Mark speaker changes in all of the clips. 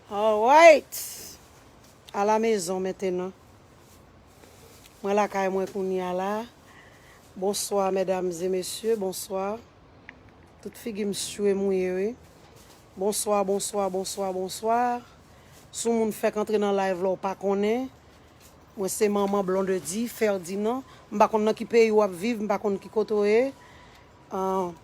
Speaker 1: Alright! A la mezon mentenan. Mwen lakay mwen kounya la. Bonswa medam e mesye, bonswa. Tout figi m swe mouye wi. Bonswa, bonswa, bonswa, bonswa. Si w moun fèk antre nan live la w pa konnen, mwen se manman Blondedy Ferdinand. M pa konn nan ki peyi w ap viv, m pa konn ki kote w ye. Ahh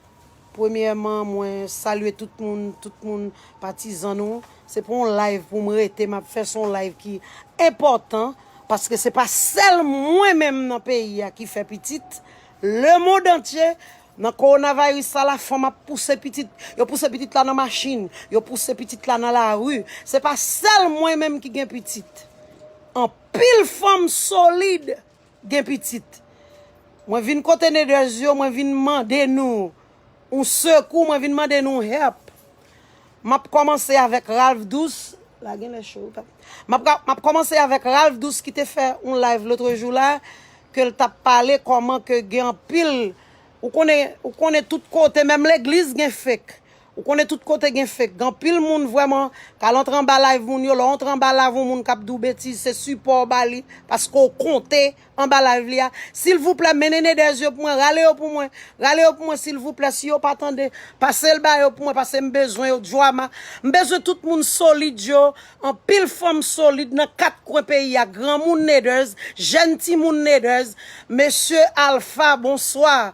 Speaker 1: Premyèman mwen salye tout moun, tout moun patizan nou. Se pou yon live pou m rete m ap fè se yon live ki enpòtan paske se pa sèl mwen menm nan peyi a ki fè pitit. Le mond antye nan kowonaviris sa la fanm ap pouse pitit, yo pouse pitit la nan machin, yo pouse pitit la nan lari. Se pa sèl mwen menm ki gen pitit. Anpil fanm solid gen pitit. Mwen vin kote Neders yo, mwen vin mande nou yon sekou, mwen vin mande nou help. M ap kòmanse avèk Ralph Douce, la genlè cho wi papa. M ap ka, m ap kòmanse avèk Ralph Douce ki te fè yon live lotrejou la, ke l t ap pale kòman ke gen anpil, ou konnen, ou konnen tout kote, menm legliz gen fake. Ou konnen tout kote gen fake. Gen anpil moun vrèman k al antre anba live moun yo. Lè w antre anba live yon moun k ap di w betiz, se sipò w ba li paske w konte anba live li a. Silvouplè, mennen Nedèse yo pou mwen. Rale yo pou mwen. Rale yo pou mwen silvouplè. Si yo pa tande, pase l ba yo pou mwen pase m bezwen yo. Joama, m bezwen tout moun solid yo. Anpil fanm solid nan kat kwen peyi a. Granmoun Nedèse, jèn timoun Nedèse. Mesye Alpha, bonswa.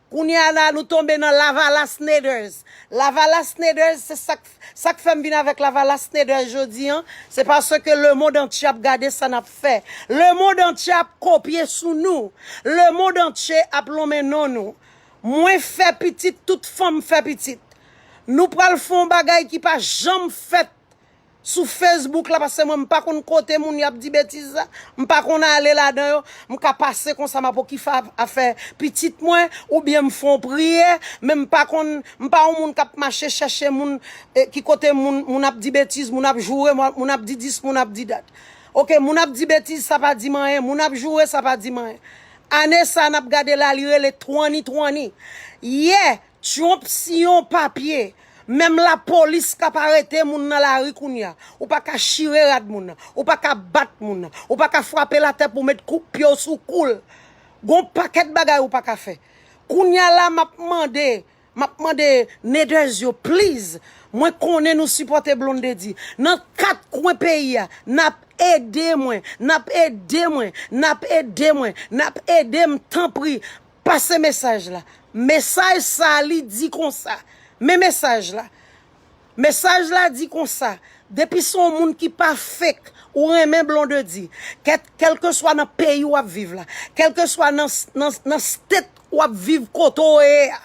Speaker 1: Kounye a la nou tonbe nan lavalas Naders. Lavalas Naders se sak sak fèm vin avèk lavalas Naders jodi an, se paske le mond antye ap gade sa nap fè. Le mond antye ap kopye sou nou. Le mond antye ap lonmen non nou. Mwen fè pitit tout fanm fè pitit. Nou pral fè yon bagay ki pa janm fèt. Sou Facebook la pase mwen m pa konn kote moun yo ap di betiz la, m pa konn ale ladan yo, m ka pase konsa m ap okife afè pitit mwen oubyen m fè yon priyè men m pa konn m pa yon moun k ap mache chèche moun ki kote moun moun ap di betiz moun ap joure moun ap di dis moun ap di dat ok moun ap di betiz sa pa di m anyen moun ap joure sa pa di m anyen ane sa n ap gade la li rele twani twani yè Trump si yon papye, menm la polis kap arete moun nan la ri kounya, ou pa ka chire rad moun nan, ou pa ka bat moun nan, ou pa ka fwape l atè pou met kout pye w sou kou l, gon pakèt bagay ou pa ka fè. Kounya la map mande, map mande Neders yo please, mwen konnen nou sipòte Blondedy, nan 4 kwen peyi a, nap ede mwen, nap ede mwen, nap ede mwen, nap ede m tanpri, Pase mesaj la. Mesaj sa li di konsa. Men mesaj la. Mesaj la di konsa. Depi son moun ki pa fake. Ou renmen blondedy. Ket kelke swa nan peyi wap viv la. Kelke swa nan state wap viv kote ou ye a.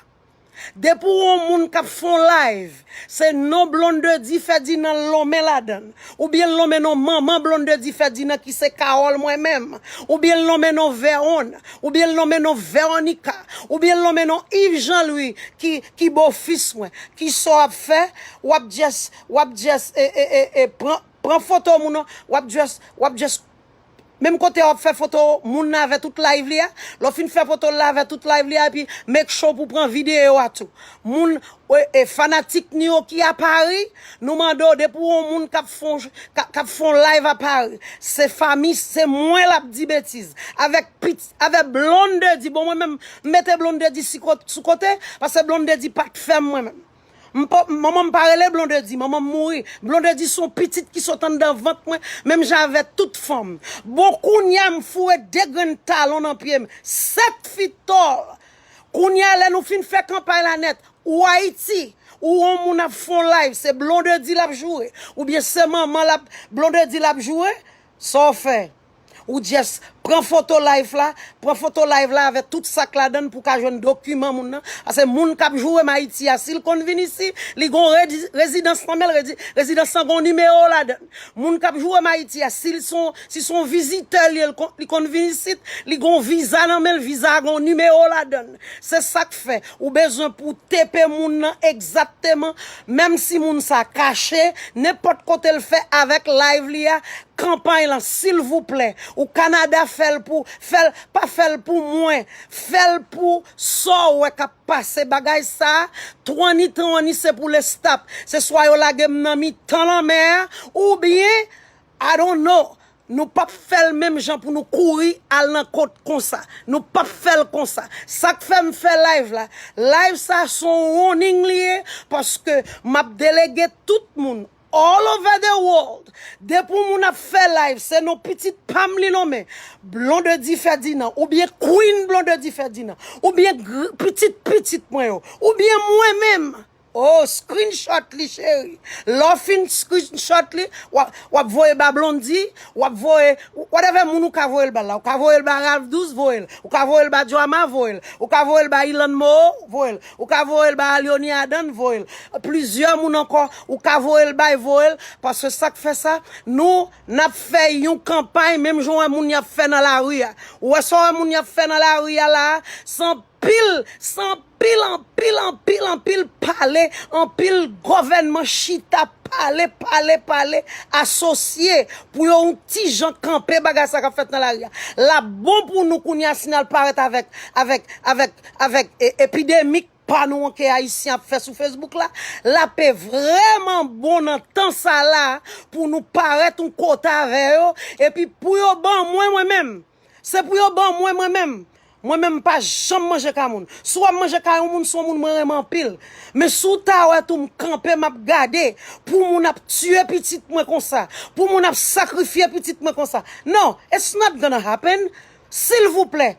Speaker 1: Depi w on moun kap fè on live se non Blondedy Ferdinand lonmen ladann ou byen lonmen non manman Blondedy Ferdinand ki se Carole mwen menm ou byen lonmen non Veron ou byen lonmen non Veronica ou byen lonmen non Yves Jean Louis ki ki bo fis mwen kisa w ap fè w ap just w ap just e e e pran pran foto moun w ap just w ap just Menm kote wap fè foto moun lave tout live li a, lè w fin fè foto l lave tout live li a epi make sure pou pran video a tou. Moun e fanatik nou yo ki a Paris, nou mande w depi w wè yon moun kap fon kap fon live a Paris, se fami se mwen lap di betiz avèk pit avèk Blondedy bon mwen menm m mete Blondedy si sou kote pase Blondedy pat fè m mwen menm. Manman m pa rele Blondedy, manman m mouri. Blondedy son pitit ki sot anndan vant mwen, menm jan avè tout fanm. Bon kounya m foure 2 grenn talon nan pye m, 7 fi tòl. Kounya lè nou fin fè kanpay la nèt, ou Ayiti, ou on moun ap fon live, se Blondedy l ap joure, oubyen se manman l ap, Blondedy l ap joure, sa w fè? Ou just pran foto life la, pran foto live la avè tout sak ladann pou ka jwenn dokiman moun nan. Ase moun kap joure m Ayiti a, sil konn vin isi, li gon rezidans nan menl, rezidans lan gon nimewo ladann. Moun kap joure m Ayiti a, sil son, si son vizitè l ye, li konn vin isit, li gon viza nan menl, viza a gon nimewo ladann. Se sak fè ou bezwen pou w tepe moun nan egzatteman menm si moun sa kache nenpòt kote l fè avèk live li a kanpay lan silvouplè ou Canada fèl pou fèl pa fèl pou mwen fèl pou sa w wè kap pase bagay sa twani twani se pou lestap se swa yo lage m nan mitan lanmè a oubyen I don't know Nou pap fel menm jan pou nou kouri al nan kot konsa. Nou pap fel konsa. Sak fem fe live la. Live sa son warning li ye paske map delege tout moun all over the world. Depi yon moun ap fe live se non pitit pam li nonmen. Blondedy Ferdinand oubyen Queen Blondedy Ferdinand oubyen pitit pitit mwen yo oubyen mwen menm. Oh screenshot li cheri. Lè w fin screenshot li, w ap voye ba Blondy, w ap voye whatever moun ou ka voye l ba l la. Ou ka voye l ba Ralph 12, voye l. Ou ka voye l ba Joama, voye l. Ou ka voye l ba Ilan Moo, voye l. Ou ka voye l ba Alionie Adan, voye l. Plizyè moun ankò ou ka voye l bay, voye l. Paske sa k fè sa, nou n ap fè yon kanpay menm jan w wè moun y ap fè nan lari a. Ou wè sa w wè moun y ap fè nan lari a la a? San Pil san pil anpil anpil anpil pale anpil govènman chita pale pale pale asosye pou yo yon ti jan kanpe bagay sa kap fèt nan lari a lap bon pou nou kounye a si nal parèt avèk avèk avèk avèk epidemik pa nou an ke ayisyen ap fè sou fesbouk la lape vrèman bon nan tan sa la pou nou parèt yon kote avè yo epi pou yo ban mwen mwen menm. Se pou yo ban mwen mwen menm. Mwen menm m pa janm manje kay moun. Si w wè m manje kay yon moun, se yon moun mwen renmen anpil. Men si w ta wè tou m kanpe m ap gade pou moun ap tiye pitit mwen konsa, pou moun ap sakrifye pitit mwen konsa. Non, it's not gonna happen. Silvouplè,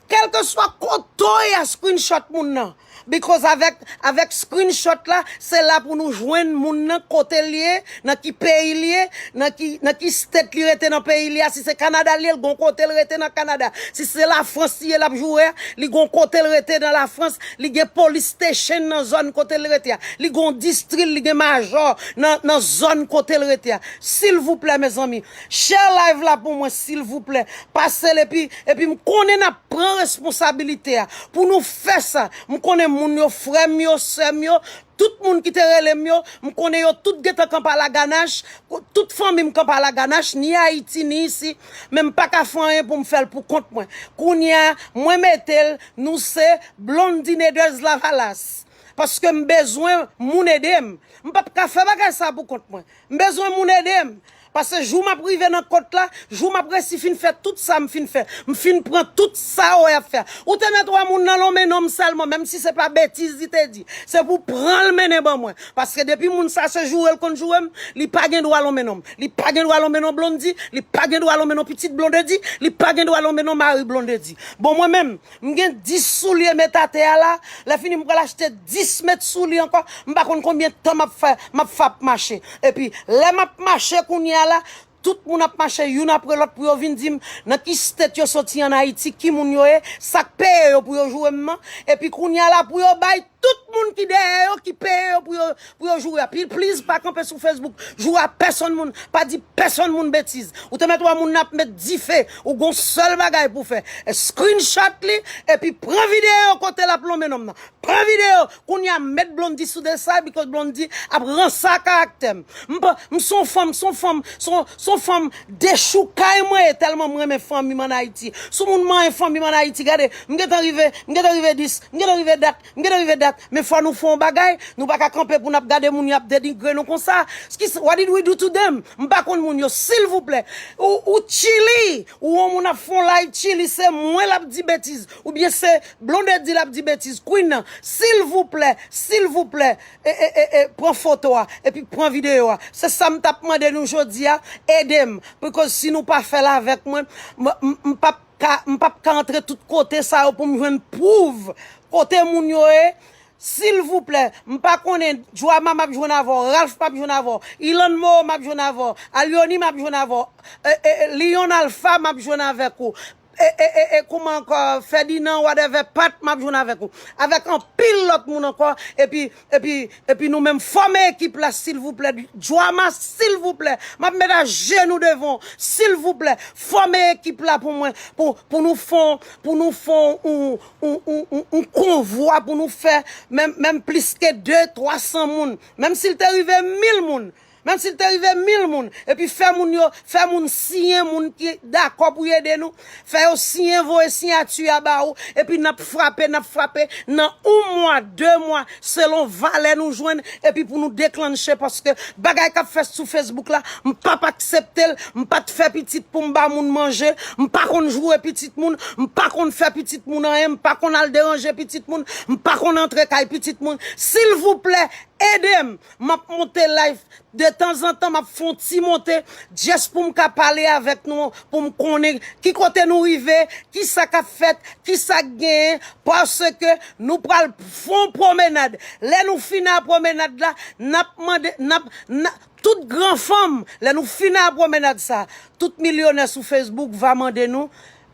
Speaker 1: kèlkeswa kote w ye a screenshot moun nan. Because avèk avèk screenshot la se la pou nou jwenn moun nan kote li ye nan ki peyi li ye nan ki nan ki state li rete nan peyi li ya si se Canada li ye li gon kote li rete nan Canada si se la France li ye lap joure ya li gon kote li rete nan la France li gen police station nan zone kote li rete ya li gon distri li gen major nan nan zone kote li rete ya silvouplè mezanmi Share live la pou mwen silvouplè pasel epi epi m konnen nap pran responsabilite a pou nou fè sa m konnen moun yo frèm yo sèm yo tout moun ki te relem yo m konnen yo tout gentan kanpa la ganache tout fanmim kanpa la ganache ni ayiti ni isi men m paka fè anyen poum fèl pou kont mwen kounya mwen metel nou se blondineders lavalas paske m bezwen moun edem m pap ka fè bagay sa pou kont mwen m bezwen moun edem Pase jou map rive nan kot la, jou map resi fin fè tout sa m fin fè, m fin pran tout sa ou ap fè. Ou te mèt wè moun nan lon men non m sèlman, menm si se pa betiz li te di, se pou pran l mennen ban mwen. Paske depi moun sa se joure l konn joure m, li pa gen dwa lon men non m. Li pa gen dwa lon men non Blondy, li pa gen dwa lon men non pitit Blondedy, li pa gen dwa lon men non mari Blondedy. Bon mwen menm, M gen 10 soulye met atè a la, lè fini m pral achte 10 met soulye ankò, m pa konn konbyen tan m ap fè, m ap fè ap mache. Epi, lè m ap mache kounye a la, tout moun ap mache youn apre lòt pou yo vin di m nan ki state yo soti an Ayiti, ki moun yo ye, sa k peye yo pou yo joure m nan. Epi kounye a la pou yo bay. Tout moun ki dèyè yo ki peye yo pou yo pou yo joure a pi please pa kanpe sou Facebook joure a pèsonn moun pa di pèsonn moun betiz ou te mèt wè moun nan ap met dife ou gon sèl bagay pou fè screenshot li epi pran video kote lap lonmen nonm nan pran video kounya met Blondy sou desay because Blondy ap ransa karaktèm m pa m son fanm son fanm son son fanm Dechoukay mwen ye telman m renmen fanmim an ayiti sou moun manyen fanmim an ayiti gade m gentan rive m gentan rive 10 m gentan rive dat m gentan rive dat men fò nou fè yon bagay nou pa ka kanpe pou nap gade moun yap denigre nou konsa skis what did we do to them m pa konn moun yo silvouplè ou ou chili ou yon moun ap fè yon live chili se mwen lap di betiz oubyen se blondedy lap di betiz queen nan silvouplè silvouplè e e e e pran foto a epi pran video a se sam tap mande nou jodia edem because si nou pa fèl avèk mwen m pap ka m pap ka antre tout kote sa yo poum jwenn pwouv kote moun yo ye silvouplè m pa konnen joama map jwenn avè w ralph map jwenn avè w ilann moo map jwenn avè w alyony map jwenn avè w e e lion alpha map jwenn avèk ou E e e e kouman ankò Ferdinand whatever Pat map jwenn avèk ou avèk anpil lòt moun ankò epi epi epi nou menm fòme ekip la silvouplè Joama silvouplè map met ajenou devan w silvouplè fòme ekip la pou mwen pou pou nou fè w pou nou fè w yon yon yon yon yon konvwa pou nou fè menm menm plis ke 2 300 moun menm si l te rive 1000 moun Menm si l te rive mil moun, epi fè moun yo, fè moun siyen, moun ki dakò pou y ede nou, fè yo siyen, voye siyati a ba ou, epi n ap frape, n ap frape, nan yon mwa, de mwa, selon valè nou jwenn, epi pou nou deklannche, paske bagay k ap fèt sou Facebook la, m p ap aksepte l, m pa t fè pitit pou m ba moun manje, m pa konn joure pitit moun, m pa konn fè pitit moun anyen, m pa konn al deranje pitit moun, m pa konn antre kay pitit moun, silvouplè, ede m! Map monte live de tanzantan map fon ti monte just poum ka pale avek nou poum konnen ki kote nou rive ki sa kap fet ki sa k genyen paske nou pral fon promenade lè nou fin a promenade la nap mande nap na tout gran fanm lè nou fin a promenade sa tout milyonè sou facebook va mande nou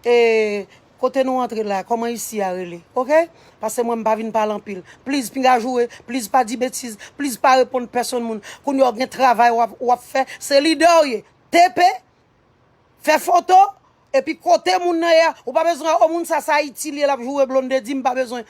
Speaker 1: e Kote nou antre la koman isi a rele ok pase mwen mpa vin pale anpil pliz pinga joure pliz pa di betiz pliz pa reponn pèsonn moun kounya w gen travay wap fè se lidè w ye TP fè foto epi kote moun nan ye a ou pa bezwen oh moun sa se ayiti l ye lap joure blondedy mpa bezwen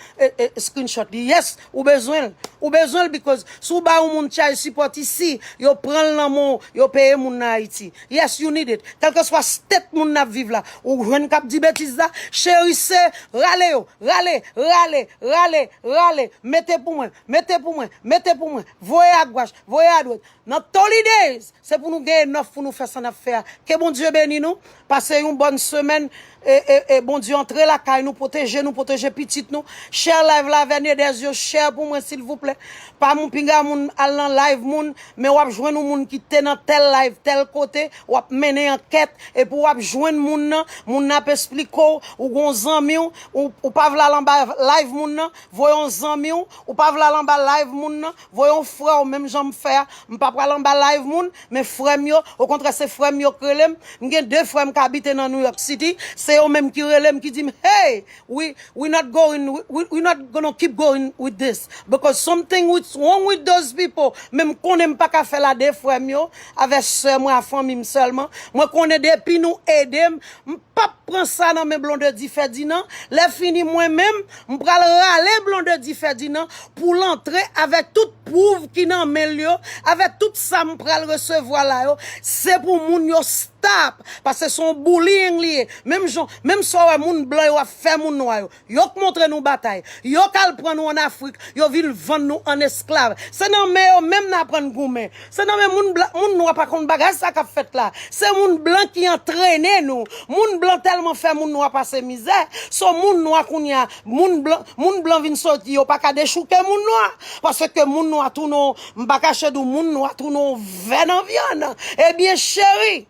Speaker 1: screenshot li yes Ou bezwenl. Ou bezwenl because si w ba yon moun child support isi, yo pranl nan men w, yo peye moun nan Ayiti. Yes you need it. Kelkeswa state moun nan ap viv la. Ou jwenn kap di betiz la? Cheri se rale yo, rale, rale, rale, rale, mete pou mwen, mete pou mwen, mete pou mwen, voye a gwach, voye a dwet. Nan Tolly Days se pou nou gen enòf pou nou fè sa nap fè a ke Bondye beni nou pase yon bòn semèn ee Bondye antre lakay nou pwoteje nou pwoteje pitit nou share live la avè Nedèse yo share pou mwen silvouplè pa moun pinga moun al nan live moun men wap jwenn yon moun ki te nan tèl live tèl kote wap mennen ankèt epi wap jwenn moun nan moun nan ap esplike w ou gon zanmiw ou pa vle al anba live moun nan voye yon zanmiw ou pa vle al anba live moun nan. Voye yon frèw menm janm fè a, m pa pral anba live moun, men frèm yo, okontrè se frèm yo k relem, m gen 2 frèm k abite nan New York City, se yo menm ki relem ki dim hey we we not going we not gonna keep going with this because something wits wrong with those people men m konnen m paka fèl a 2 frèm yo avè sè mwen a fanmi m sèlman, mwen konnen depi nou edem m pap pran sa nan men Blondedy Ferdinand, lè fini mwen menm M pral rale Blondedy Ferdinand pou l antre avèk tout pwouv ki nan men l yo, avèk tout sa m pral resevwa la yo, se pou moun yo stop, paske se yon bullying li ye, menm jan, menm sa w wè moun blan yo ap fè moun nwa yo, yo k montre nou batay, yo k al pran nou an Afrik, yo vin vann nou an esklav, se nan men yo menm n aprann goumen. Se nan men moun blan, moun nwa pa konn bagay sa kap fèt la. Se moun blan ki antrene nou. Moun blan tèlman fè moun nwa pase mizè, so moun nwa kounye a, moun blan, moun blan vin soti yo pa ka dechouke moun nwa. Paske moun nwa tounen yon, m pa kache di w moun nwa tounen yon vè nan vyann. Ebyen cheri,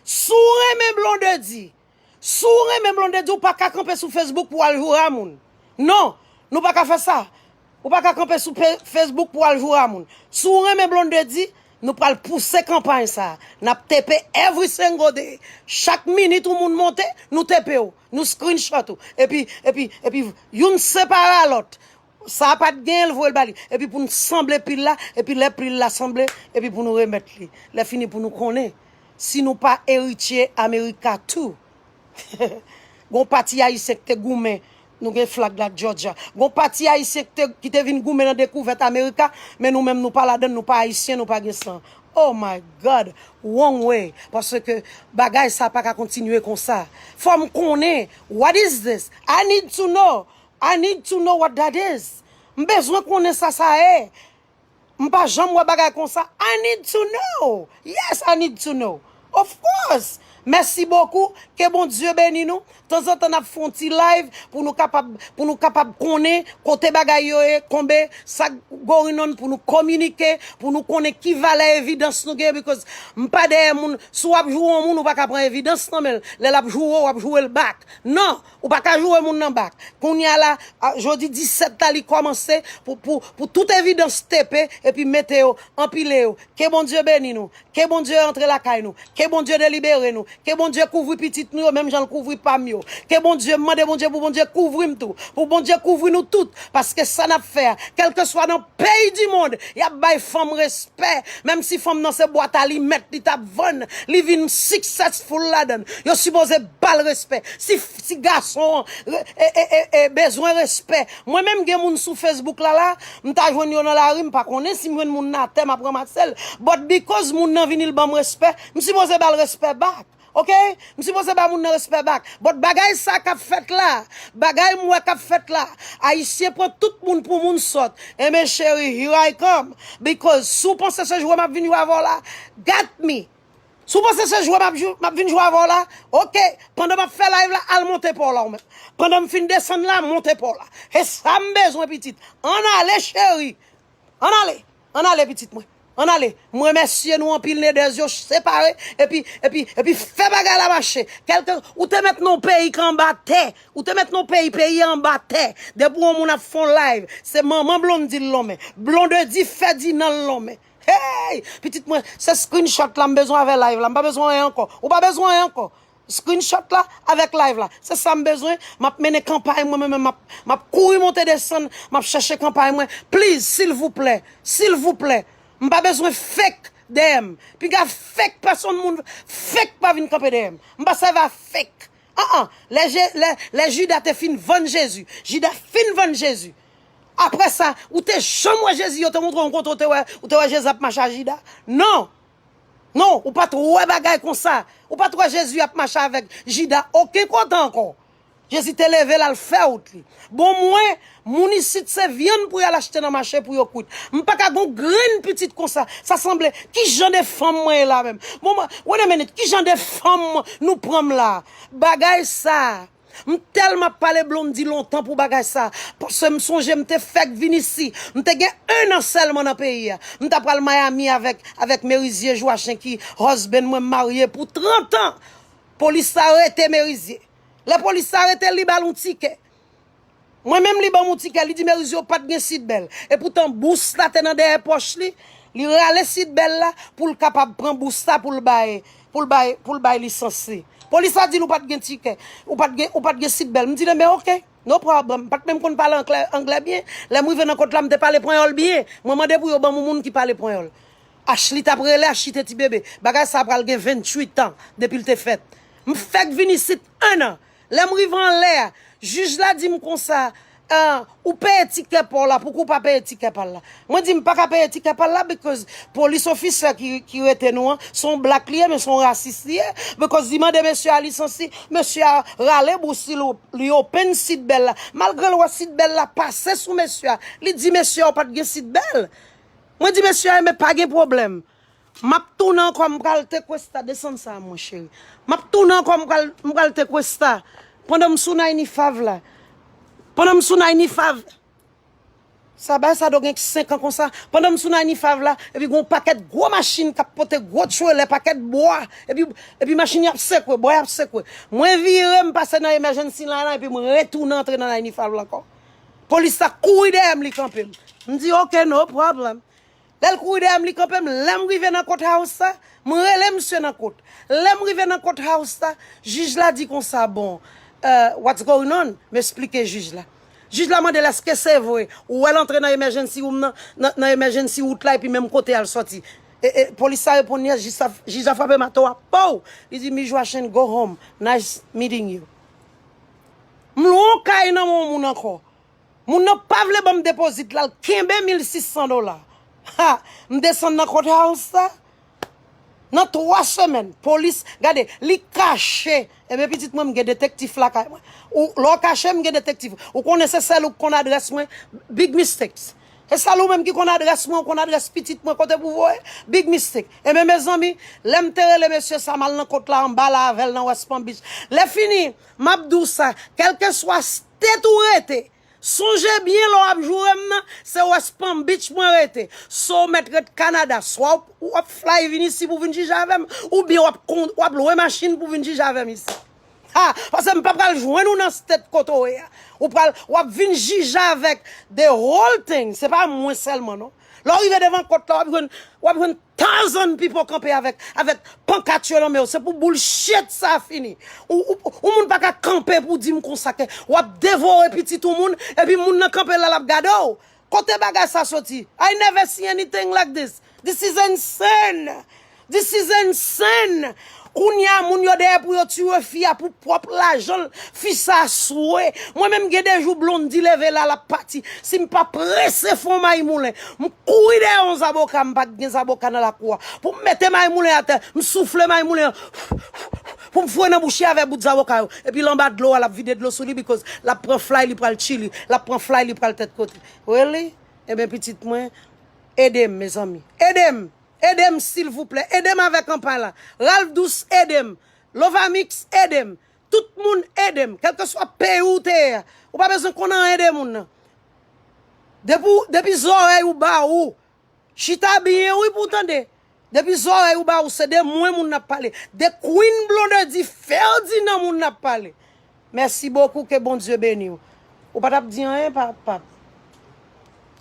Speaker 1: si w renmen Blondedy, Si w renmen Blondedy ou pa ka kanpe sou Facebook pou w al joura moun. Non, nou pa ka fè sa. Ou pa ka kanpe sou Facebook pou w al joura moun. Si w renmen Blondedy, nou pral pouse kanpay sa. N ap tepe every single day. Chak minit yon moun monte, nou tepe w. Nou screenshot ou. Epi, epi, epi, youn separe a lòt. Sa pat genyen l voyel ba li. Epi pou nou sanble pil la, epi lè pil la sanble, epi pou nou remèt li. Lè fini pou nou konnen si nou pa eritye America tou. Gon pati ayisyen ki te goumen, nou gen flag la Georgia. Gon pati ayisyen ki te ki te vin goumen nan dekouvèt America, men nou menm nou pa ladann, nou pa ayisyen, nou pa gen san. Oh my God! Wrong way! Paske bagay sa pa ka kontinye konsa. Fò m konnen, what is this? I need to know! I need to know what that is M bezwen konnen sa sa e M pa janm wè bagay konsa I need to know Yes I need to know Of course Mèsi bokou Ke Bondye beni nou Tanzantan nap fon ti live pou nou kapab pou nou kapab konnen kote bagay yo ye konbe sa going on pou nou kominike pou nou konnen ki valè evidans nou gen because m pa dèyè moun si wap joure yon moun ou paka pran evidans nan menl lèl ap joure w wap joure l back nan Ou pa ka joure moun nan bak. Kounya la, a, jodi 17 la li kòmanse pou, pou, pou tout evidans tepe epi mete yo, anpile yo. Ke Bondye beni nou. Ke Bondye antre lakay nou. Ke Bondye delibere nou. Ke Bondye kouvri pitit nou yo menm jan l kouvri pa m yo. Ke Bondye, m mande Bondye pou Bondye kouvri m tou. Pou Bondye kouvri nou tout. Paske sa n ap fè a, kèlkeswa nan peyi dimond, y ap bay fanm respè. Menm si fanm nan se bwat alimèt li t ap vann, li vin successful ladan l. Yo sipoze. Pal respè si si gason e bezwen respè mwen menm gen moun sou Facebook la la m ta jwenn yo nan lari m pa konnen si m jwenn moun nan atè map ramassel but because moun nan vini l banm respè m sipoze bal respè back ok m sipoze ba moun nan respè back but bagay sa kap fèt la bagay m wè kap fèt la ayisyen pran tout moun pou moun sòt enben cheri here I come because si w panse se jwe map vin jwe avè w la got me Si w panse se jwe map jwe, map vin jwe avè w la, ok, pandan map fè live la, al monte pa w la ou menm. Pandan m fin desann la, monte pa w la. Se sa m bezwen pitit. Ann ale cheri. Ann ale. Ann ale pitit mwen. Ann ale. M remèsye nou anpil Nedèz yo separe epi epi epi fè bagay la mache. Kèlke ou te met non peyi k anba tè. Ou te met non peyi, peyi a anba tè. Depi yon moun ap fè yon live, se manman Blondedy l lonmen. Blondedy Ferdinand l lonmen. Hey! Pitit mwen, se screenshot la m bezwen avè live la. M pa bezwen anyen ankò. Ou pa bezwen anyen ankò. Screenshot la avèk live la. Se sa m bezwen. M ap mennen kanpay mwen mwen menm. M ap kouri monte desann. M ap chèche kanpay mwen. Please, silvouplè, silvouplè, m pa bezwen fake dèyè m. Piga fake pèsonn moun fake pa vin kanpe dèyè m. M pa sèvi a fake. Aa lè je lè lè Judas te fin vann Jésus Judas fin vann Jésus aprè sa ou te janm wè Jésus yo te montre yon kote ou te wè ou te wè Jésus ap mache a Judas non non ou pat wè bagay konsa ou pat wè Jésus ap mache avèk Judas oken kote ankò Jésus te leve lal fè wout li bon mwen Moun isit se vyann pou yal achte nan mache pou yo kwit. M paka gon grenn pitit konsa. Sa sanble ki jan de fanm mwen ye la menm. Bon wait a minute ki jan de fanm nou pran m la. Bagay sa M telman ap pale Blondie lontan pou bagay sa paske m sonje m te fek vin isi. M te gen 1 an selman nan peyi a. M ta pral Miami avek avek Merizier Joachin ki husband mwen m marye pou 30 ans. Polis la rete Merizier. Le polis la rete li bal yon ticket. Mwen menm li banm on ti kè li di Merizio pat gen sid bèl epoutan bous la te nan dèyè pòch li, li rale sid bèl la poul kapab pran bous la poul bay poul bay poul bay lisans li. Polis la dil ou pat gen tikè ou pat gen ou pat gen sid bèl m di le men ok no problem m pat menm konn pale anklè anglè byen lèm rive nan kont la m te pale panyòl byen mwen mande pou yo banm on moun ki pale panyòl Ashley tap rele Ashley te ti bebe bagay sa pral gen 28 ans depil te fèt m fèk vin isit 1 an Lè m rive anlè, jij la di m konsa, Ahh, ou peye tikè pa w la, pouki w pa peye tikè pa l la? Mwen di, M pa ka peye tikè pa l la because police officer ki rete nou an, se yon black li ye men se yon rasis li ye, because li mande mesye a lisans li, mesye a rale bous li, li open seat belt la, malgre l wè seat belt la pase sou mesye a, li di mesye a ou pa t gen seat belt? Mwen di mesye a, Enben pa gen pwoblèm. Map tounen ankò m pral tequesta desann sa mwen cheri map tounen ankò m pral m pral tequesta pandan m sou nayni fav la pandan m sou nayni fav sa ba sa do gen 5 an konsa pandan m sou nayni fav la epi gon pakèt gwo machin kap pote gwo trelè pakèt bwa epi epi machin yo ap sekwe bwa yo ap sekwe mwen vire m pase nan emèjènsi line lan epi m retounen antre nan nayni fav la ankò polis la kouri dèyè m li kanpe m m di ok no pwoblèm Lè l kouri dèyè m, li kanpe m. Lè m rive nan kot house la, m rele misye nan kot. Lè m rive nan kot house la, jij la di konsa, bon, eh, what's going on? M esplike jij la. Jij la mande l, èske se vre, ou wè l antre nan emergency room nan, nan emergency route la epi menm kote a l sòti? E, e, polis la reponn yes, jij sa, jij la frape mato a, pow! Li di, Mijwa Chen, go home. Nice meeting you. M lwen yon kay nan men yon moun ankò. Moun nan pa vle banm deposit la, l kenbe 1600 dola. Ha! M desann nan court house la, nan 3 semèn, polis, gade, li kache, enben pitit mwen m gen detektif lakay mwen, ou, lè w kache m gen detektif, ou konnen se sèl ou k konn adrès mwen, big mistakes. Se sèl ou menm ki konn adrès mwen, ou konn adrès pitit mwen kote pou voye, big mistake. Enben mezanmi, lè m te rele mesye sa, m al nan court la anba la avè l nan West Palm Beach. Lè fini, m ap di w sa, kèlkeswa s. Tèt ou rete. Sonje byen lè w ap joure m nan, se West Palm Beach mwen rete. So w mèt ret Kanada, swa w ap fly vin isi pou w vin jije avè m, oubyen w ap lwe machin pou w vin jije avè m isi. Ha! Pase m pa pral jwenn ou nan state kote w ye a. Ou pral, w ap vin jije avèk the whole thing, se pa mwen sèlman non. Lè w rive devan kòt la, w ap jwenn, w ap jwenn. Tarzan pipo kanpe avek avek pankat yo nan menw se pou bullshit sa fini ou ou ou moun pa ka kanpe pou dim konsa ke wap devore pitit ou moun epi moun nan kanpe la lap gadew kote bagay sa soti I never see anything like this this is insane this is insane Kounya moun yo dèyè pou yo tue fi a pou pwòp lajanl fi sa swe mwen menm gen de jou Blondy leve la lap pati sim pa prese fon Maymoulen m kouri dèyè yon zaboka m pa gen zaboka nan lakou a poum mete Maymoulen atè m soufle Maymoulen fouuff poum fwe nan bouch li avè bout zaboka yo epil anba dlo a lap vide dlo sou li bikòz lap pran flay li pral chili lap pran flay li pral tèt kote really ebyen pitit mwen edem mezanmi edem. Edem silvouplè edem avè kanpay la Ralph dous edem lovamix edem tout moun edem kelkeswa peyi ou te ye a ou pa bezwen konn anyen de moun nan depi ou depi zòrèy ou ba ou chita byen wi pou w tande depi zòrèy ou ba ou se de mwen moun nan ap pale de Queen Blondedy Ferdinand moun nan ap pale Merci beaucoup ke Bondye beniw. Ou pa tap di anyen pa pap.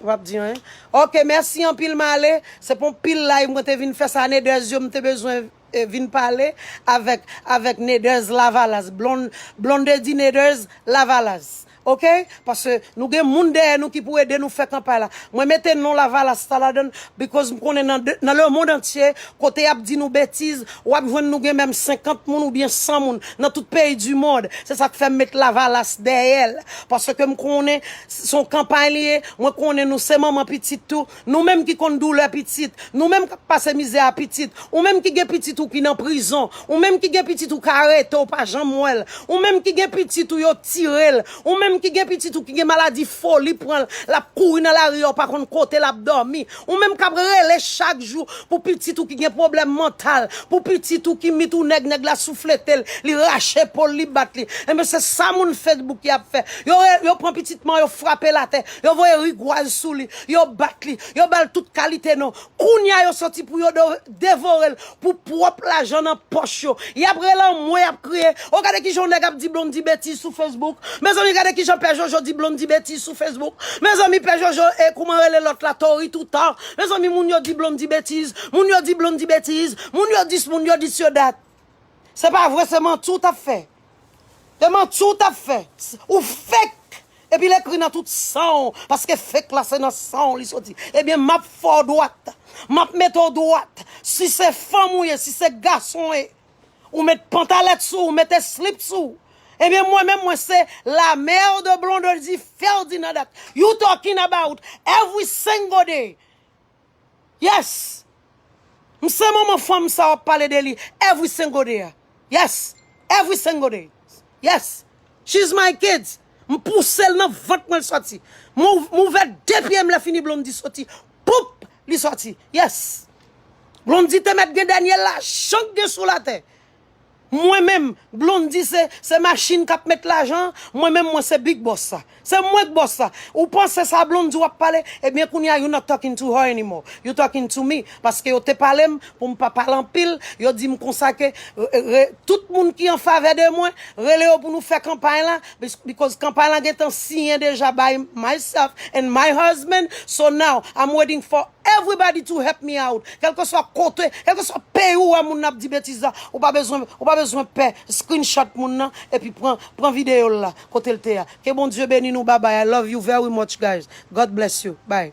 Speaker 1: Ou pap di anyen. Ok merci anpil male. Se pon pil live mwen te vin fè sa Neders yo mte bezwen vin pale avèk avèk Neders lavalas blonde blondedy Neders lavalas ok Paske nou gen moun dèyè nou ki pou ede nou fè kanpay la. Mwen mete non lavalas la ladann because m konnen nan nan le mond antye kote yap di nou betiz wap jwenn nou gen menm 50 moun oubyen 100 moun nan tout peyi du mond se sak fèm met lavalas dèyèl paske m konnen son kanpay li ye mwen konnen nou se manman pitit tou Nou menm ki konn doulè pitit, nou menm kap pase mizè a pitit, ou menm ki gen pitit ou ki nan prizon, ou menm ki gen pitit ou ka arete ou pa janm wèl, ou menm ki gen pitit ou yo tirel, ou menm ki gen pitit ou ki gen maladi foli pranl lap kouri nan lari a ou pa konn kote lap dòmi, ou menm kap rele chak jou pou pitit ou ki gen pwoblèm mantal, pou pitit ou ki mit ou nèg nèg la soufletel, li rache pol li bat li, enben se sa moun Facebook yo ap fè, yo pran pitit man yo frapel atè, Yo voye rigwaz sou li, yo bat li, yo ba l tout kalite non. Kounye a yo santi pou yo devore l pou pwòp lajan nan pòch yo. Y ap rele anmwe, y ap kriye. O gade kijan yon nèg ap di Blondy betiz sou Facebook. Mezanmi gade kijan Pè Jojo di Blondy betiz sou Facebook. Mezanmi Pè Jojo e kouman rele lòt la Tory Toutan. Mezanmi moun yo di Blondy betiz. Moun yo di Blondy betiz. Moun yo dis, moun yo dis yo dat. Se pa vre se manti w t ap fè. E manti w tap fè? Ou fake epi l ekri nan tout san w paske fake la se nan san w li soti. Ebyen map fè w dwat, map mete w dwat. Si se fanm ou ye, si se gason e, ou met pantalèt sou ou, mete slip sou ou. Ebyen mwen menm mwen se la mère de Blondedy Ferdinand at you talking about every single day. Yes! M se manman fanm sa wap pale de li every single day a. Yes! Every single day. Yes! She's my kids. M pouse l nan vant mwen l soti. M ouvè 2 pye m lè fini Blondie soti. Poup! Li soti. Yes! Blondie te mèt gen dènye lajan k gen sou latè. Mwen menm Blondy se se machine kap met lajan mwen menm mwen se big boss la se mwen k boss la ou panse sa Blondy wap pale ebyen kounya you not talking to her anymore you talking to me paske yo te palem poum pa pale anpil yo dim konsa ke re tout moun ki an favè de mwen rele yo pou nou fè kanpay la because kanpay la gentan siyen deja by myself and my husband so now I'm waiting for Everybody to help me out kelkeswa kote kelkeswa peyi ou wè moun nan ap di betiz la ou pa bezwen ou pa bezwen pè screenshot moun nan epi pran pran video l la kotel te a ke Bondye beni nou babay I love you very much guys God bless you bye.